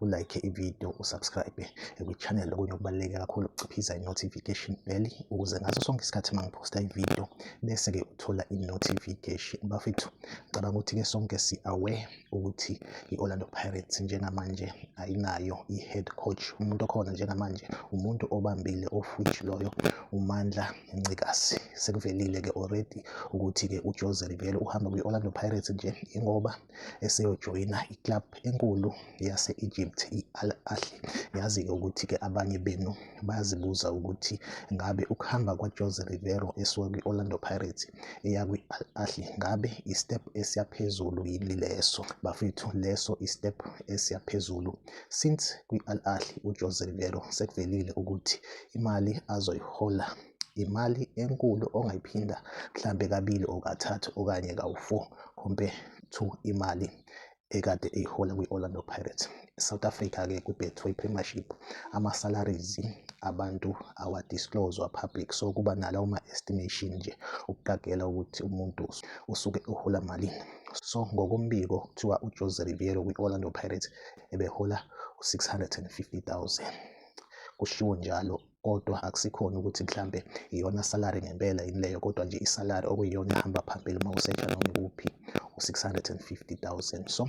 ulike ividiyo usubscribe kwi-channel okunye okubaluleke kakhulu ukuciphiza i-notification bell ukuze ngaso sonke isikhathi uma ngiphosta ividiyo bese-ke uthola i-notification bafethu ngicabanga ukuthi-ke sonke si-aware ukuthi i-orlando pirates njengamanje ayinayo i-head coach umuntu okhona njengamanje umuntu obambile ofuji loyo umandla ncikazi sekuvelile-ke already ukuthi-ke ujose rivelo uhamba kwi-orlando pirates nje ingoba eseyojoyina i-club enkulu yase-Egypt i-Al Ahly. Yazi-ke ukuthi-ke abanye benu bayazibuza ukuthi ngabe ukuhamba kwaJose Riveiro esuka kwi-Orlando Pirates eya kwi-Al Ahly ngabe i-step esiyaphezulu yini leso? Bafethu leso i-step esiyaphezulu since kwi-Al Ahly uJose Riveiro sekuvelile ukuthi imali azoyihola imali enkulu ongayiphinda mhlampe kabili or kathathu okanye kawu-four compare to imali ekade eyihola kwi-Orlando Pirates. South Africa-ke kwi-Betway Premiership ama-salaries abantu awadiscloswa public so kuba nala uma-estimation nje ukuqagela ukuthi umuntu usuke uhola malini. So ngokombiko kuthiwa uJose Riveiro kwi-Orlando Pirates ebehola u-650,000 kushiwo njalo kodwa akusikhona ukuthi mhlambe iyona salary ngempela yini leyo kodwa nje isalary okuyiyona ehamba phambili uma usesha noma ikuphi u-650000 so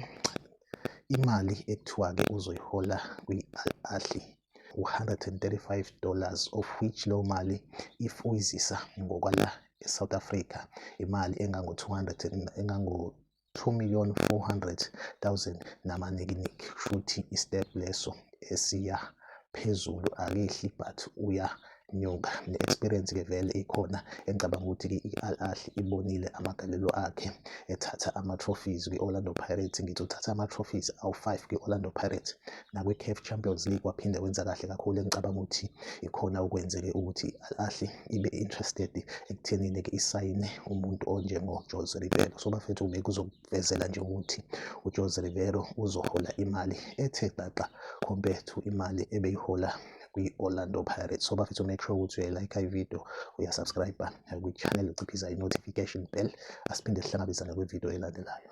imali ekuthiwa-ke uzoyihola kwi-al ahli u-135 dollars of which leyo mali if uyizisa ngokwala e-south africa imali engango-200 engango 2 million 400 000 namanikiniki shuthi istep leso esiya phezulu akehli but uya nyuka ne-experience ke vele ikhona engicabanga ukuthi-ke i-al ahli ibonile amagalelo akhe ethatha ama-trophies kwi-orlando pirates ngithi uthatha ama-trophies awu-five kwi-orlando pirates nakwi-CAF Champions League waphinde wenza kahle kakhulu engicabanga ukuthi ikhona okwenzeke ukuthi i-Al ibe interested ekuthenini ke isayine umuntu onjengo Jose Riveiro so bafethu bekuzokuvezela nje ukuthi uJose Riveiro uzohola imali ethe xaxa compared to imali ebeyihola kwi-Orlando Pirates. So bafethu make sure ukuthi uyayilike i-video, uyasubscribe kwi-channel, uciphiza i-notification bell. Asiphinde sihlangabezane kwi-video elandelayo.